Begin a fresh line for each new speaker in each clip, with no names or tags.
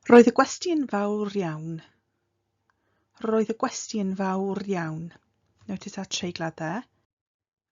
Roedd y gwesti'n fawr iawn. Roedd y gwesti'n fawr iawn. Notice our treigladau.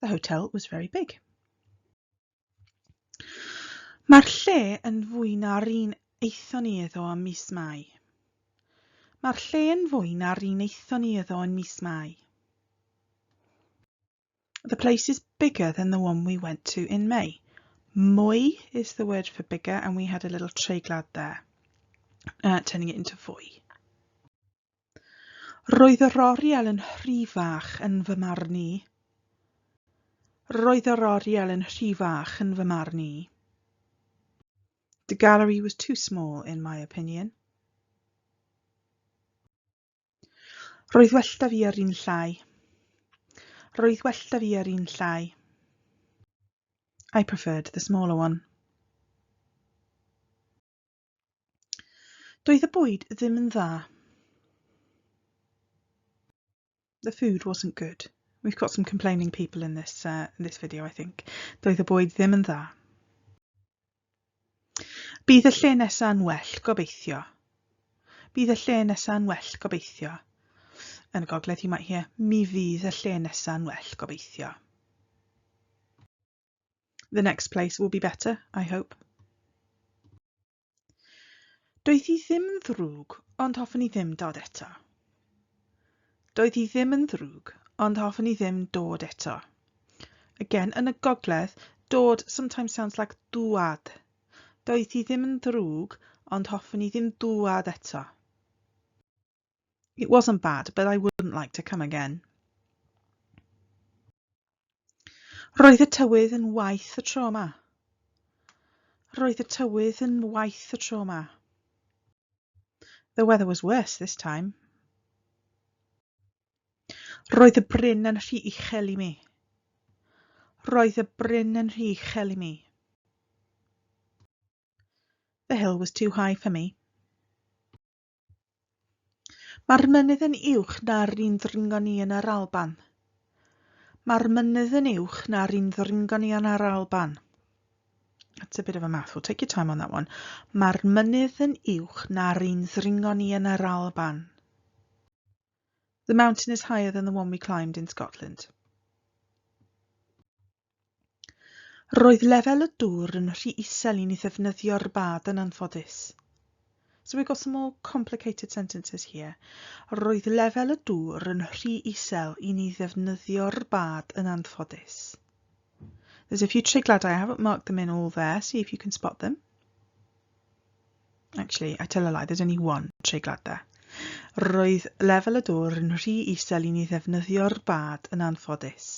The hotel was very big. Mae'r lle yn fwy na'r un aethon ni iddo ym mis Mai. Mae'r lle yn fwy na'r un aethon ni iddo yn mis Mai. The place is bigger than the one we went to in May. Mwy is the word for bigger and we had a little treiglad there, uh, turning it into fwy. Roedd yr oriel yn rhy fach yn fy marn i. Roedd yr oriel yn rhy fach yn fy marn i. The gallery was too small in my opinion. Roedd well da fi ar un llai. Roedd well da fi ar un llai. I preferred the smaller one. Doedd y bwyd ddim yn dda. The food wasn't good. We've got some complaining people in this, uh, in this video, I think. Doedd y bwyd ddim yn dda. Bydd y lle nesau'n well, gobeithio. Bydd y lle nesau'n well, gobeithio. Yn y gogledd, you might hear, mi fydd y lle nesau'n well, gobeithio. The next place will be better, I hope. Doedd hi ddim yn ddrwg, ond hoffwn i ddim dod eto. Doedd hi ddim yn ddrwg, ond hoffwn i ddim dod eto. Again, yn y gogledd, dod sometimes sounds like dŵad. Doedd hi ddim yn ddrwg, ond hoffwn i ddim dŵad eto. It wasn't bad, but I wouldn't like to come again. Roedd y tywydd yn waith y tro yma. Roedd y tywydd yn waith y tro yma. The weather was worse this time. Roedd y bryn yn rhy uchel i mi. Roedd y bryn yn rhy uchel i mi. The hill was too high for me. Mae'r mynydd yn uwch na'r un ddringon ni yn yr Alban. Mae'r mynydd yn uwch na'r un ddringon ni yn yr Alban. That's a bit of a mouthful. Take your time on that one. Mae'r mynydd yn uwch na'r un ddringo ni yn yr Alban. The mountain is higher than the one we climbed in Scotland. Roedd lefel y dŵr yn rhy isel i ni ddefnyddio'r bad yn anffodus. So we've got some more complicated sentences here. Roedd lefel y dŵr yn rhy isel i ni ddefnyddio'r bad yn anffodus. There's a few trigladau, I haven't marked them in all there, see if you can spot them. Actually, I tell a lie, there's only one treiglad there. Roedd lefel y dŵr yn rhy isel i ni ddefnyddio'r bad yn anffodus.